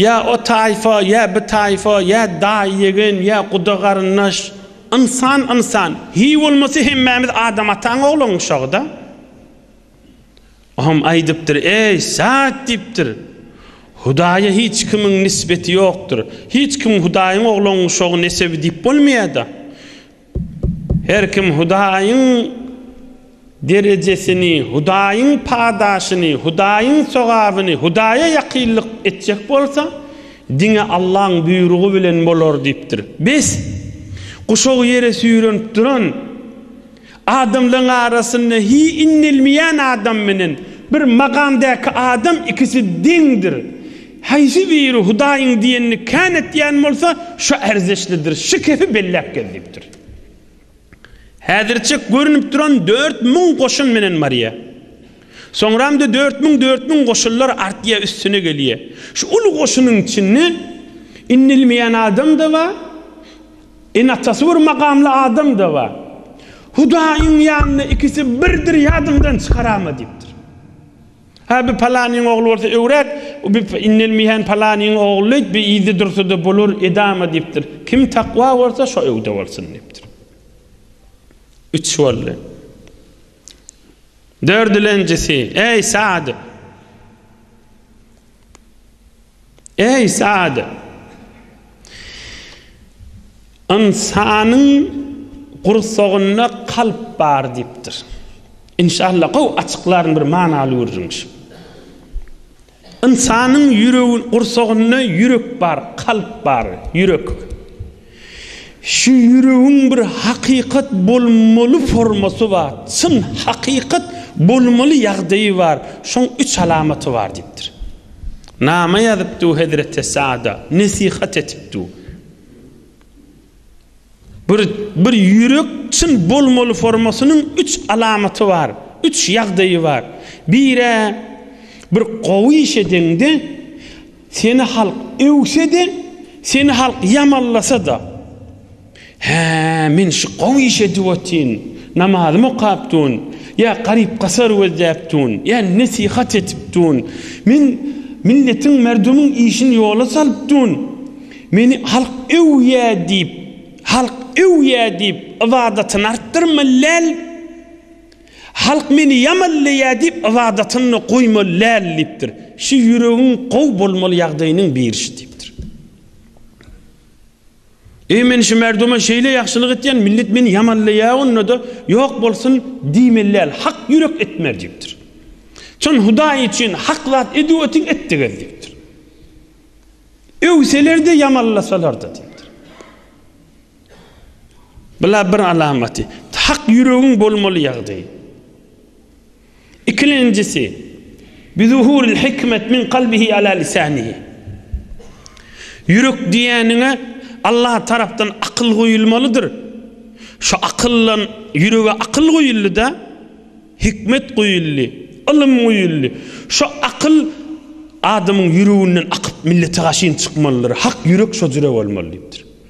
Ýa o taýfa, ýa bi taýfa, ýa daýy-ýegen, ýa guda-garyndaş. Ynsan ynsan. Hiý bolmasa hemmämiz Adam ataň ogluň uşagy-da. Oňam aýdypdyr, Eý, Sa'd! diýipdir. Hudaýa hiç kimiň nisbeti ýokdur. Hiç kim Hudaýyň ogluň uşagy nesebi diýip bolmaýa-da. Her kim Hudaýyň derejesini, Hudaýyň padaşyny, Hudaýyň sogabyny, Hudaýa ýakynlyk etjek bolsa, diňe Allaň buýrugy bilen bolar diýipdir. Bes! Guşagy ýere süýrenip duran, adamlaryň arasynda hi inelmeýän adam menen bir magamdäki adam ikisi deňdir. Haýsy biri Hudaýyň diýenini kän etýän bolsa, şo erzeşlidir, şikefi belläp gez diýipdir. Häzirçek görünip duran dört müň goşun menen barýa. Soňramda dört müň, dört müň goşunlar artýa, üstüne gelýä. Şu uly goşunyň içinde inilmeýän adam-da bar, ene-atasy bir makamly adam-da bar. Hudaýyň ýanynda ikisi birdir, ýadyňdan çykaranma diýipdir. Hä, bi palanyň ogly bolsa öwräk, bi indelmeýän palanyň ogly diýip, bi yzda dursa-da bolar, edama diýipdir. Kim takwa bolsa, şo öwde bolsun diýipdir. Üç boldy. Dördülenjisi, Eý, Sad! Eý, Sa'd! Ynsanyň gursagynda kalp bar diýipdir. Inşallah gowy açyklaryn bir manaly gürrüňşi. Ynsanyň ýüregi gursagynda ýürek bar, kalp bar, ýürek. Şu ýüregiň bir hakykat bolmaly formasy bar, çyn hakykat bolmaly ýagdaýy bar, şoň üç alamaty bar diýipdir. Nama ýazypdy hezreti Sada, nesihat etipdi. Bir bir ýürek çyn bolmaly formasynyň üç alamaty bar, üç ýagdaýy bar. Biri bir gowy iş edeňde Seni halk öwse-de, seni halk ýamanlasa-da, Hä, men şu gowy iş edip otyryn, namazym okap durun, ýa garyp-gasar gözläp durun, ýa nesihat etip durun, men milletiň, merdumuň işini ýola salyp durun, meni halk öwýä diýip, halk öwýä diýip, ybadatyny artdyrma, läl! Halk meni ýamanlaýar diýip ybadatyny goýmaly däl diýipdir. Şu ýüregiň gowy bolmaly ýagdaýynyň birisi diýipdir. Eý men şu merduma şeýle ýagşylyk etýän millet meni ýamanlaýar onda-da ýok bolsun diýmeli däl hak ýürek etmär diýipdir. Çyn Hudaý üçin hak zat edip otyň etdigez diýipdir. Öwseler-de ýamanlasalar-da diýipdir. Bula bir alamaty, hak ýüregiň bolmaly ýagdaý. Ikilenjisi, Bizuhuril hikmet min kalbihi ala lisanihi. Ýürek diýýäniňe Allah tarapdan akyl goýulmalydyr. Şu akyldan ýürege akyl goýuldy-da, hikmet goýuldy, ylym goýuldy. Şu akyl adamyň ýüreginden akyp millete gaşyn çykmalydyr. Hak ýürek şo jüre bolmaly diýipdir.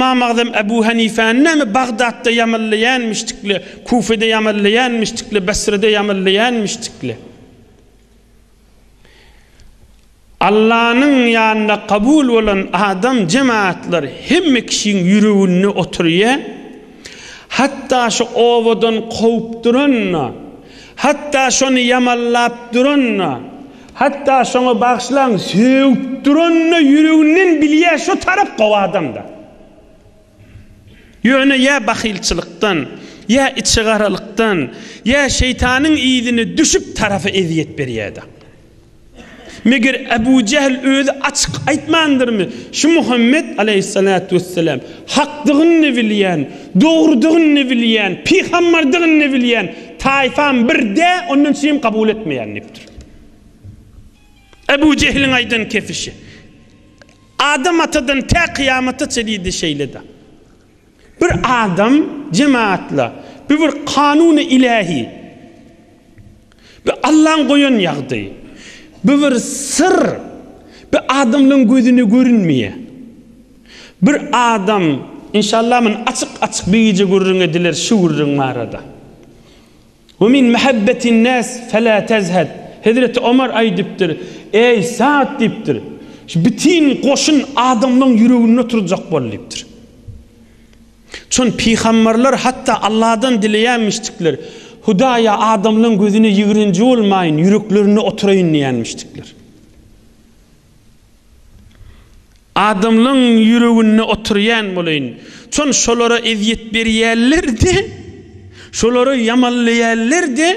Ymam Agzam Ebu Hanifäni näme Bagdatda ýamallaýanmyşdykly, Kufede ýamallaýanmyşdykly, Basrada ýamallaýanmyşdykly? Allanyň ýanynda kabul bolan adam jemaatlar hemme kişiň ýüreginde oturýar. Hatda şu obadan kowup duran-da, hatda şony ýamallap duran-da, Hatda şoňa bagyşlaň sögüp duranyna ýüreginden bilýä şo tarap gowy adamda. Ýöne ýa bahylçylykdan, ýa içigaralykdan, ýa şeýtanyň yzyna düşüp tarapy ezýet berýäda. Meger Abu Jehl özi açyk aýtmandyrmy şu Muhammet aleýhissalatu wessalam hakdygyny bilýän, dogrudygyny bilýän, pygammardygyny bilýän taýpam bir dä ondan üçinem kabul etmeýän diýipdir. Ebu Jehliň aýdan kepişi. Adam atadan tä kyýamata çenli-de şeýle-dä. Bir adam jemagatla, bu bir kanuny ilähi. Bu Allaň goýan ýagdaýy. Bu bir syr. Bu adamlaryň gözüne görünmeýär. Bir adam, inşallah muny açyk-açyk bir gije gürrüň ediler şu gürrüň barada. We min mahabbetin nas fela tazhad, Hezreti Omar aýdypdyr, Eý, Saad diýipdir, şu bitin goşun adamlaryň ýüreginde oturjak bol diýipdir. Çün pygamberler hatda Allahdan dileýänmişdikler, Hudaýa adamlaryň gözüne ýigrenji bolmaýyn, ýüreklerinde oturaýyn diýenmişdikler. Adamlaň ýüreginde oturýan bolaýyn. Çon şolara ezýet berýällerde, şolary ýamanlaýallerde,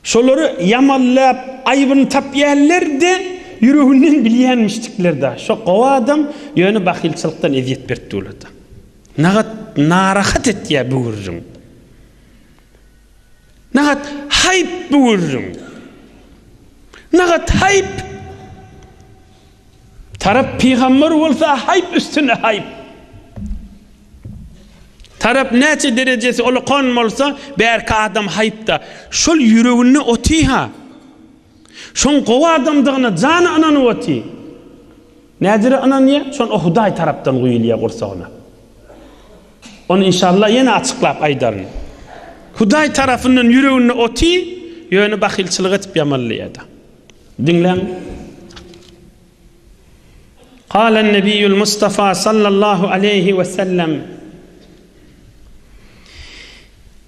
şolary ýamanlap aýbyny tapýallerde, ýüreginden bilýänmişdiklerda, şo gowy adam, ýöne bahylçylykdan ezýet beripdi olada. Nagat narahat etýä bu gürrüň. Nahat haýp bu gürrüň. Nahat haýp. Tarap pygamber bolsa haýp üstüne haýp. Tarap näçe derejesi ulukan bolsa bärki adam haýpda. Şol ýüreginde otyha. Şoň gowy adamdygyna jany ynanyp otyr. Nädire ynanýar? Şon o Hudaý tarapdan guýulýar gursagyna. Ony inşallah ýene açyklap aýdaryn. Hudaý tarapyndan ýüreginde otyr, ýöne bahylçylyk edip ýamanlaýada. Diňläň. Galan Nebiýül Mustafa sallallahu aleýhi we sellem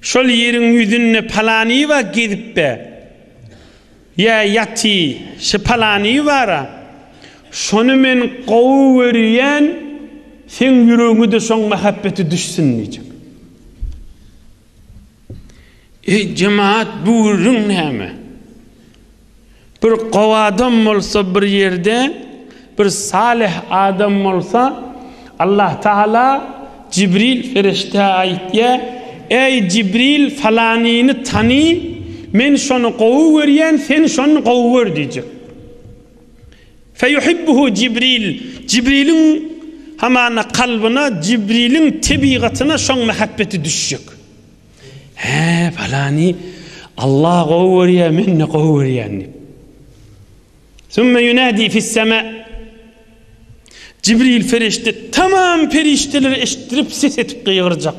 Şol ýeriň ýüzünde palanyba gezip-ä ýa ýaty, şi palany bar-a. Şony men gowy görýän, seň ýüregiňe-de şoň mähebbeti düşsün diýjek. Eý, jemaat, bu gürrüň näme? Bir gowy adam bolsa bir ýerde bir salyh adam bolsa Allah Taala Jibril perişdä aýtýa Eý Jibril falanyny tany men şony gowy görýän sen şony gowy gör diýjek. Feýuhibbuhu Jibril Jibriliň hamana kalbyna Jibriliň tebigatyna şoň mähebbeti düşjek. Hä, palany Allah gowy görýär, men-de gowy görýän diýip. Sümme ýunädi fis-sema. Jibril perişde tamam perişdeleri eşitdirip ses etip gygyrjak.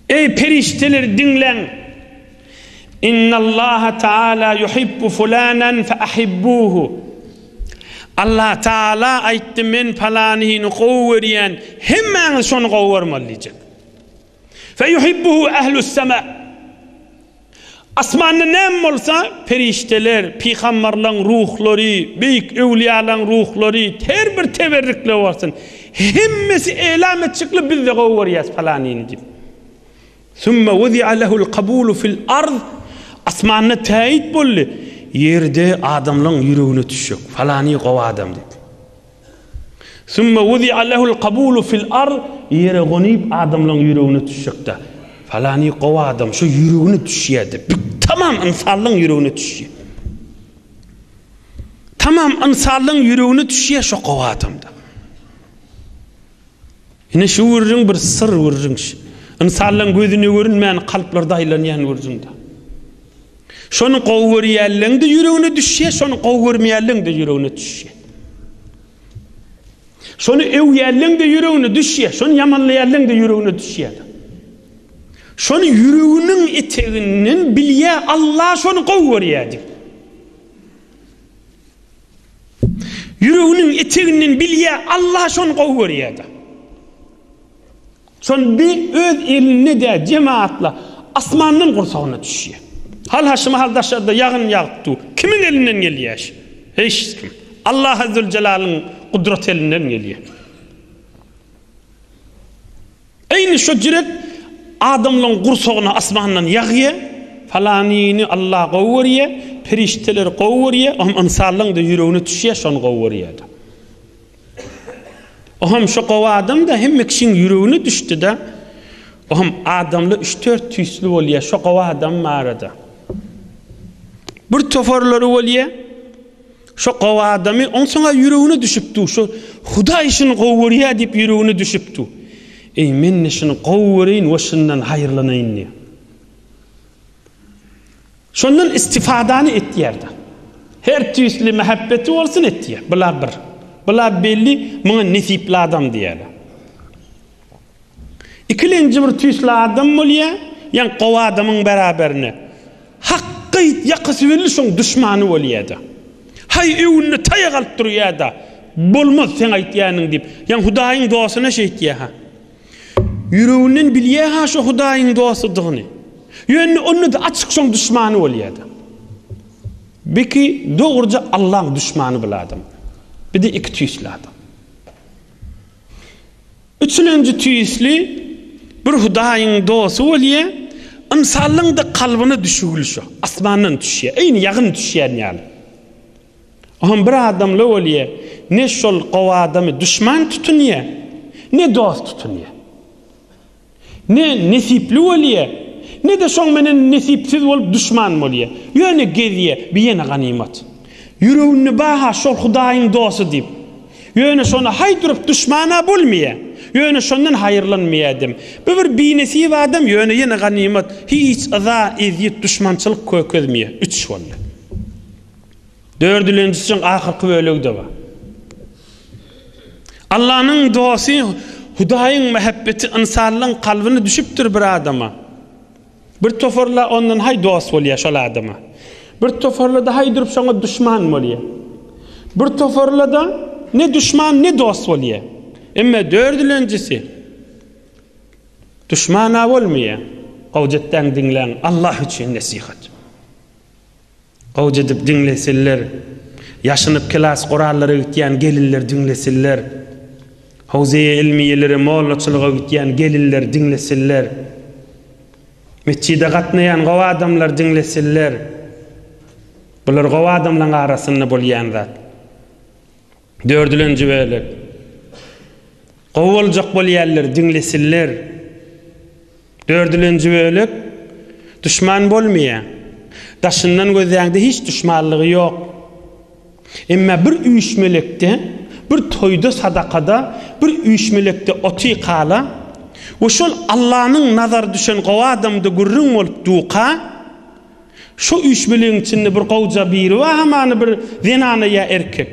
Eý perişdeler diňläň. Innallaha taala yuhibbu fulanan fa ahibbuhu. Allah taala aýtdy men palanyny gowy görýän, hemmäňiz şony gowy görmeli diýjek. Feýuhibbuhu ehlussemâ. Asmanda näme bolsa, perişdeler, pygamberleriň ruhlary, beýik öwlüýalaryň ruhlary, her bir teberrikler bolsun, hemmesi eýlam etjekler, biz-de gowy görýäris palanyny diýip. Summa wuzi'a lehul kabulu fil ard. Asmanda täýit boldy, ýerde adamlaryň ýüregine düşjek, palany gowy adam diýip. Sümme wudi'a lehul kabulu fil ard, ýere gonup adamlaň ýüregine düşjekde. Falany gowy adam şu ýüregine düşýär diýip, bir tamam ynsanlaň ýüregine düşýär. Tamam ynsanlaň ýüregine düşýär şo gowy adamda. Ine şu gürrüň bir syr gürrüň. Ynsanlaryň gözüne görünmän kalplarda aýlanýan gürrüň-dä. Şony gowy görýänleň-de ýüregine düşýär, şony gowy görmeýänleň-de ýüregine düşýär. Şony öwýänleň-de ýüregine düşýär, şony ýamanlaýanleň-de ýüregine düşýär. Şony ýüreginiň eteginden bilýär, Allah şony gowy görýär diýip. Ýüreginiň eteginden bilýä Alla şony gowy görýäda. Şon bi öz elinde dä jemaatla asmandan gursagyna düşýä. Hal ha şu mahal daşarda ýagyn ýagyp dur. Kimiň elinden gelýä şu? Hiç kim. Alla Azzul Jalalyň gudrat elinden gelýä. Eýni şo jirek adamlaň gursagyna asmandan ýagýa, falanyny Allah gowy görýä, perişdeler gowy görýä, ohm ynsanlaňda ýüregine düşýä şony gowy görýäda. Ohm şo gowy adamda hemme kişiň ýüregine düşdida, ohm adamla üç dört tüýsli bolýa şo gowy adam barada. Bir tofarlary bolýa. Şo gowy adamy onsaň-a ýüregine düşüpdi, şo Hudaý şuny gowy görýär diýip ýüregine düşüpdi. Eý, men-de şuny gowy göreýin we şundan haýyrlanaýyn diýip. Şondan istifadany etýär-de. Her tüýsli mähebbeti bolsun etýär. Bula bir. Bula belli, muňa nesipli adam diýýärler. Ikilenji bir tüýsli adam bolýa, ýaňk gowy adamyň beraberine. Haky aýt, ýakasy belli şoň duşmany bolýada. Haý öwünde taýak alyp durýada. Bolmaz seň aýtýanyň diýip. Ýaň hudaýyň dostuna şeýtýäha. Ýüreginden bilýäha şo hudaýyň dostudygyny. Ýöne onda-da açyk şoň duşmany bolýada. Biki dogruja Allaň duşmany bul adam. Bir-de iki tüýsli adam. Üçülenji tüýsli bir Hudaýyň dosty bolýa, ynsanlaryň-da kalbyna düşügül şo, asmandan düşýä, eýni ýagyn düşýän ýaly. O hem bir adamly bolýa, ne şol gowy adamy duşman tutunýa, ne dost tutunýa. Ne nesipli bolýa, ne-de şoň menen nesipsiz bolup duşman bolýa. Ýöne gezýä, bi ýene ganymat. Ýüreginde bar-ha şol Hudaýyň dosty diýip. Ýöne şony haý durup duşman-a bolmaýa. Ýöne şondan haýyrlanmaýadym. Bu bir binesip adam, ýöne ýene ganymat. Hiç yza, ezýet, duşmançylyk kökezmeýä. Üç boldy. Dördülenjisiň ahyrky bölegi-de bar. Allanyň dosty Hudaýyň mähebbeti ynsanlaryň kalbyna düşüpdir bir adama. Bir toparla ondan haý dost bolýar şol adama. Bir toparla-da haý durup şoňa duşman bolýar. Bir toparla-da ne duşman, ne dost bolýar. Emma dördülenjisi duşman-a bolmaýar. Hojatdan diňläň, Allah üçin nesihat. Awj edip diňlesinler. Ýaşynyp kelas gurallara gitýän gelinler diňlesinler. Howzeýe ilmiýelere mollaçylyga gitýän gelinler diňlesinler. Metjide gatnaýan gowy adamlar diňlesinler. Bular gowy adamlaň arasynda bolýan zat. Dördülenji bölek. Gowy boljak bolýarlar, diňlesinler. Dördülenji bölek. Duşman bolmaýa. Daşyndan gözläňde hiç duşmanlygy ýok. Emma bir üýşmelekde, bir toýda, sadakada, bir üýşmelekde oty kala we şol Allanyň nazary düşen gowy adamda gürrüň bolup duka, Şu üç biliň içinde bir gowja biri bar hamany bir zenana ýa erkek.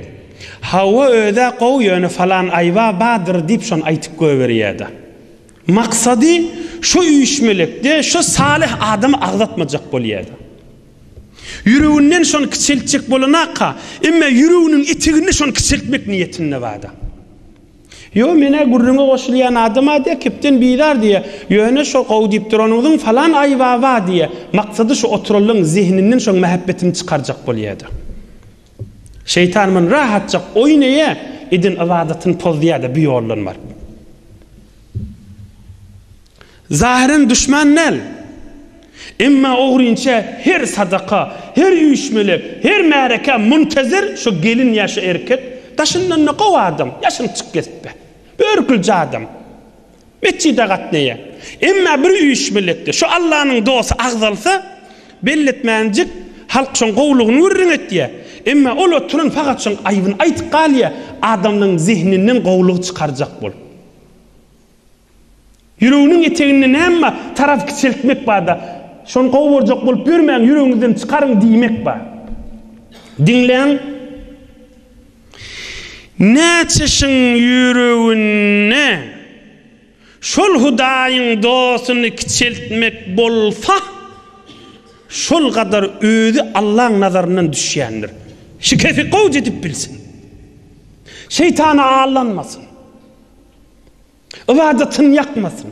Hawa özä gowy ýöne falan aýba bardyr diýip şony aýtyp göýberýäda. Maksady şu üýşmelekde şu salyh adamy agzatmajak bolýada. Ýüreginden şony kiçeltjek bolanaka emme ýüreginiň eteginde şony kiçeltmek niýetinde barda. Ýo, men-ä gürrüňe goşulýan adam-a diýýär, kepden bizar diýýär. Ýöne şo gowy diýip duranyňyzyň falan Aýbaba diýýär. Maksady şu oturanlaryň zehninden şoň mähepbetini çykarjak bolýa-da. Şeýtan muny rahatjak oýun eýe eden ybadatyny pozdýa-da bu ýoldan baryp. Zahyren duşman däl. Emma ogrynça her sadaka, her üýşmele, her märekä muntazir şu gelin ýa şu erkek, daşyndan-da gowy adam, ýaşyny çyk kesipbe. Börkülje adam. Metjide gatnaýa. Emma bir üýşmelekde şu Allanyň dosty agzalsa, belletmänjik halk şoň gowlugyny gürrüň etýä. Emma ol oturan fakat şoň aýbyny aýtyp galýa, adamlaň zehninden gowlygy çykarjak bolup. Ýüreginiň eteginde näme bar? Taraz kiçeltmek bar-da. Şony gowy görjek bolup ýörmäň, ýüregiňizden çykaryň diýmek bar. Diňläň. Näçeşiň ýüreginde şol Hudaýyň dostuny kiçeltmek bolsa, şol gadar özi Allaň nazaryndan düşýändir. Şikesi gowyja edip bilsin. Şeýtana aldanmasyn. Ybadatyny ýakmasyn.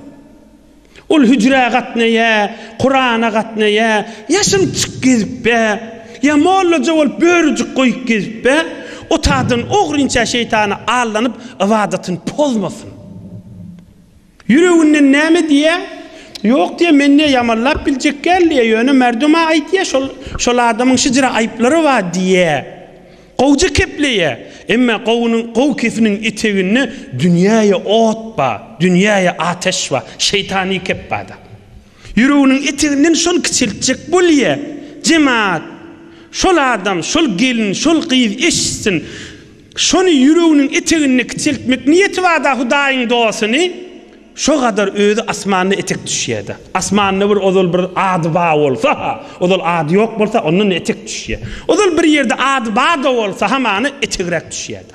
Ol hüjrä gatnaýa, Kurana gatnaýa, ýaşyl çyk gezipä, ýa mollaja bolup börüjik goýup gezipä, otagdan ogrynça şeýtana allanyp ybadatyny pozmasyn. Ýüreginden näme diýä? Ýok diýä, men diýä ýamanlap biljek däl diýä, ýöne merduma aýt diýä, şol şol adamyň şijre aýyplary bar diýä. Gowja kepleýä, emma gowunyň gowy kepiniň eteginde dünýäýe ot ba, dünýäýe ateş ba, şeýtany kep bada. Ýüreginiň eteginden şol kiçeltjek bolýa, jemaat, şol adam, şol gelin, şol gyz eşitsin, şony ýüreginiň eteginde kiçeltmek niýeti bada Hudaýyň dosuny, Şo kadar özi asmanda etek düşýärdi. Asmanda bir ozal bir ady ba bolsa-ha, ozal ady ýok bolsa, ondan etek düşýär. Ozal bir ýerde ady ba-da bolsa, hamana etegräk düşýärdi.